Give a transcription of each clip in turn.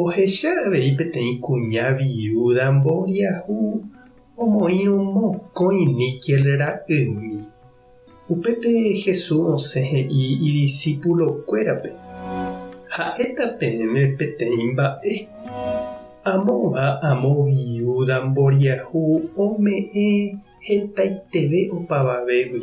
Ohecha avei peteĩ kuña viúda mboriahu omoĩrõ mokõi níkel ra'ymi. Upépe Jesús osẽ he'i idisipulokuérape, Ha'éta peẽme peteĩ mba'e. Amóva amo viúda mboriahu ome'ẽ hetaiteve opavavégui.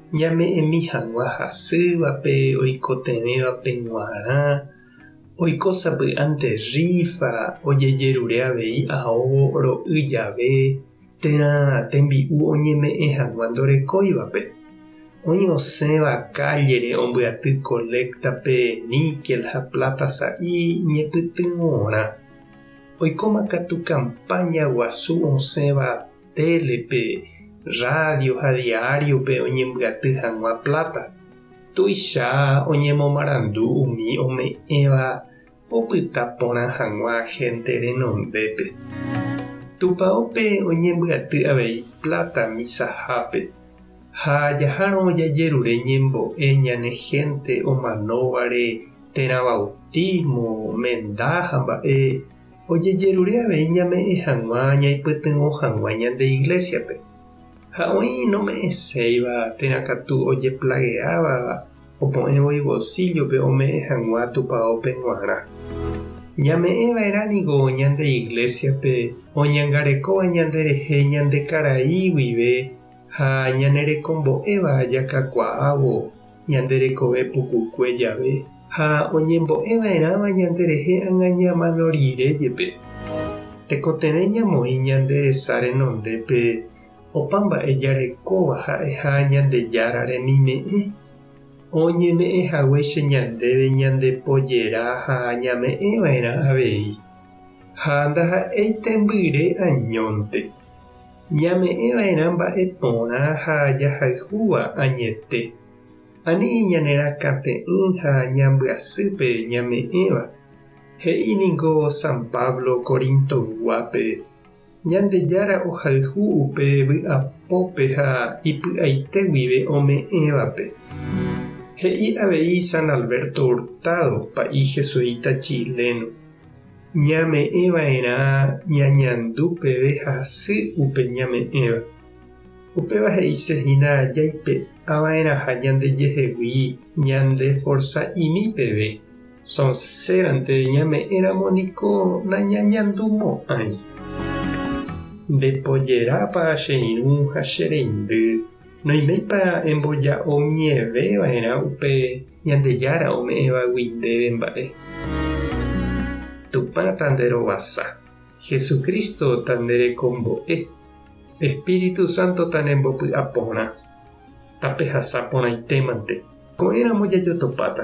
Ñame'ẽmi hag̃ua hasývape, oikotevẽvape g̃uarã, oiko sapy'ánte rífa, ojejerure avei aóvo ro'y jave, térã tembi'u oñeme'ẽ hag̃ua ndorekóivape. Oĩ osẽva kállere ombyaty koléktape níkel ha pláta sa'i ñepytyvõrã. Oikóma katu kampáña guasu osẽva. télepe, rrádio ha diáriope oñembyaty hag̃ua pláta. Tuicha oñemomarandu umi ome'ẽva opyta porã hag̃ua hénte renondépe. Tupãópe oñembyaty avei pláta misahápe, ha jahárõ jajerure ñembo'e ñane hénte omanóvare térã vautísmo, menda ha mba'e. Ojejerure avei ñame'ẽ hag̃ua ñaipytyvõ hag̃ua ñande iglésiape. Ha oĩ nome'ẽséiva térã katu ojeplageávava opu'ẽ voi bolsíllope ome'ẽ hag̃ua tupaópe g̃uarã. Ñame'ẽ va'erã ningo ñande iglésiape oñangarekóva ñanderehe ñande karai guive ha ñanerekombo'éva jakakuaávo. Ñande rekove pukukue jave ha oñembo'e va'erãva ñande rehe agaña mano rire jepe. Tekotevẽ ñamoĩ ñande resa renondépe opa mba'e jarekóva ha'eha Ñandejára remime'ẽ. Oñeme'ẽ haguéicha ñandéve ñandepojera ha ñame'ẽ va'erã avei. Ha ndaha'éi tembyre añónte. Ñame'ẽva'erã mba'e porã ha jahayhúva añete. Ani ñanerakãte'ỹ ha ñambyasy pe ñame'ẽva. He'i ningo San Pablo Corintoyguápe, Ñandejára ohayhu upe vy'apópe ha ipy'aite guive ome'ẽvape. He'i avei San Alberto Hurtado, pa'i jesuíta chileno, Ñame'ẽva'erã ñañandu peve hasy upe ñame'ẽva. Upéva he'ise hína jaipe'ava'erãha ñandejehegui ñandeforsa'imi peve, sonsérante ñame'ẽramo niko nañañandumo'ãi. Ndepojerápa che irũ ha che reindy, noiméipa emboja'omieveva'erã upe Ñandejára ome'ẽvagui ndéve mba'e. Tupã tanderovasa. Jesucristo tanderekombo'e. Espíritu Santo tanembopy'aporã. Tapehasa porãitémante. Ko'ẽramo jajotopáta.